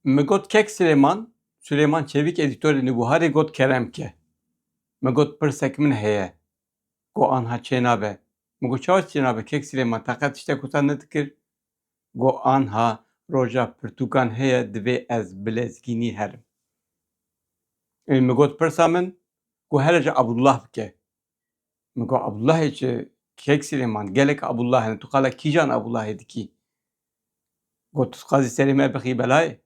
Mi got kek Süleyman, Süleyman Çevik edîtorê Nûbiharê got kerem ke. Mi got pirsek min heye. Go anha çênabe. Mi got çawa çênabe kek Süleyman teqet tiştek wisa nedikir. Go anha roja pirtûkan heye divê ez bi lezgînî herim. Ê mi got pirsa min, go hele ji Abdullah bike. Min got Abdullahê çi? Kêk Silêman, gelek Abdullah hene, tu qala kîjan Abdullahê dikî? Got, tu dixwazî serê me bixî belayê?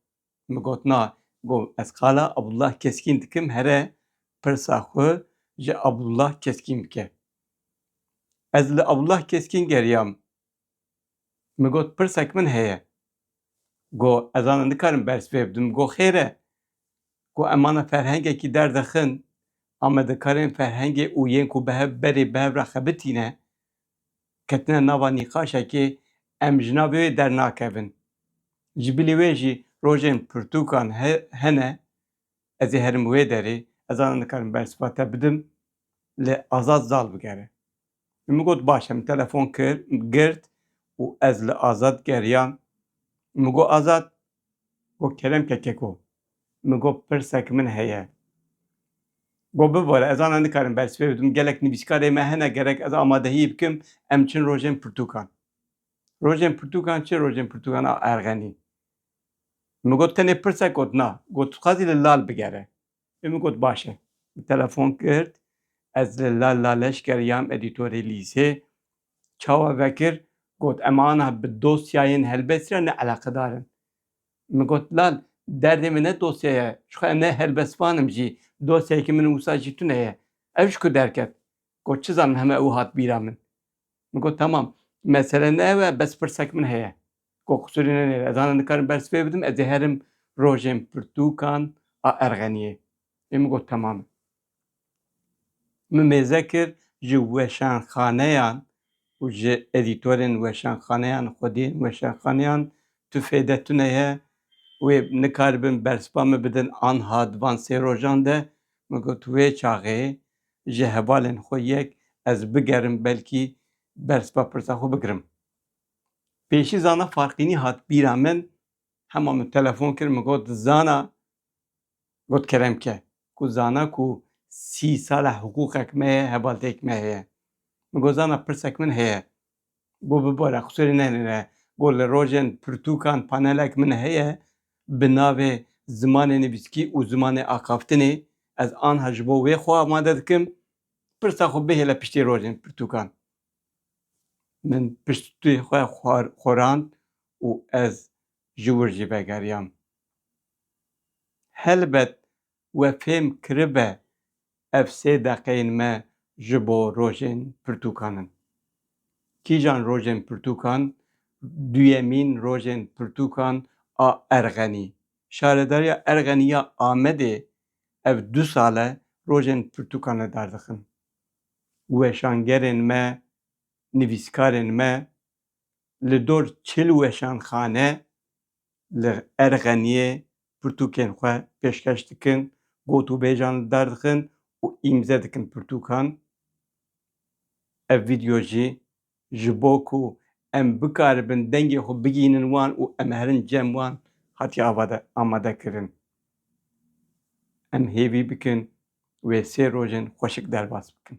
Min got na. Got, ez qala Abdullah Keskîn dikim here pirsa xwe ji Abdullah Keskîn bike. Ez li Abdullah Keskîn geriyam Min got, Pirsek min heye. Go, Ez ana nikarim berz pê bidim. Min go, Xêr e. Go, Em ana ferhengekî derdixin. Amadekarên ferhengê û yên ku bi hev berê bi hev re xebitîne, ketine nava nîqaşekê, em ji navê wê dernakevin. Ji bilî wê jî rojên pirtûkan hene, ez ê herim wê derê. Ez ana nikarim bersiva te bidim. Li Azad zal bigere. Min mi got baş e, min telefon kir, girt û ez li Azad geriyam. Min got Azad, got keremke keko. Min got pirsek min heye. Got bibare, ez ana nikarim bersivê bidim, gelek nivîskarê me hene gerek ez amadehiyê bikim, em çin rojên pirtûkan. Rojên pirtûkan çi rojên pirtûkan a erxenî? Min got tenê pirsek got na. Got tu dixwazî li lal bigere. Ê min got baş e. Min telefon kir, ez li La La Leşker yam edîtorê lîzê. Çawa vekir, got em ana bi dosyayên helbest re ne eleqedar in. Min got lal, derdê min ne dosya ye, jixwe em ne helbestvan im jî, dosyayekî min wisa jî tune ye. Ev ji ku derket? Got çi zanim heme ew hat bîra min. Min got temam, mesele ne ew e, bes pirsek min heye. Ko qusûrê nenê ez ana nikarim bersiv pê bidim ez ê herim rojên pirtûkan a Erxeniyê ê min got temam e. Min mêze kir ji weşanxaneyan û ji edîtorên weşanxaneyan xwediyên weşanxaneyan tu fêde tune ye wê nikaribin bersiva min bidin anha di van sê rojan de min got wê çaxê ji hevalên xwe yek ez bigerim belkî bersiva pirsa xwe bigirim. Pêşî zana Farqînî hat bîra min, hema min telefon kir min got zana got Keremke ku zana ku sî sal e hiqûqek me heye, hevalteyek me heye. Min got zana pirsek min heye. Got bibare xisûrê nehêlîne. Got li rojên pirtûkan panelek min heye bi navê Zimanê nivîskî û zimanê axaftinê. Ez anha ji bo wê xwe amade dikim. Pirsa xwe bihêle piştî rojên pirtûkan. Min piştî xwe xurand û ez ji wir jî vegeriyam. Helbet we fêm kiribe ev sê deqeyên me ji bo rojên pirtûkan in. Kîjan rojên pirtûkan? Duyemîn rojên pirtûkan a Erxenî. Şaredariya Erxenî ya Amedê ev du sal e rojên pirtûkan li dar dixin. weşangerên me, nivîskarên me li dor çil weşanxane li Erxeniyê pirtûkên xwe pêşkeş dikin, gotûbêjan li dar dixin û îmze dikin pirtûkan. Ev vîdyo jî Ji bo ku em bikaribin dengê xwe bigihînin wan û em herin cem wan hatiye avade amadekirin. Em hêvî bikin wê sê rojên xweşik derbas bikin.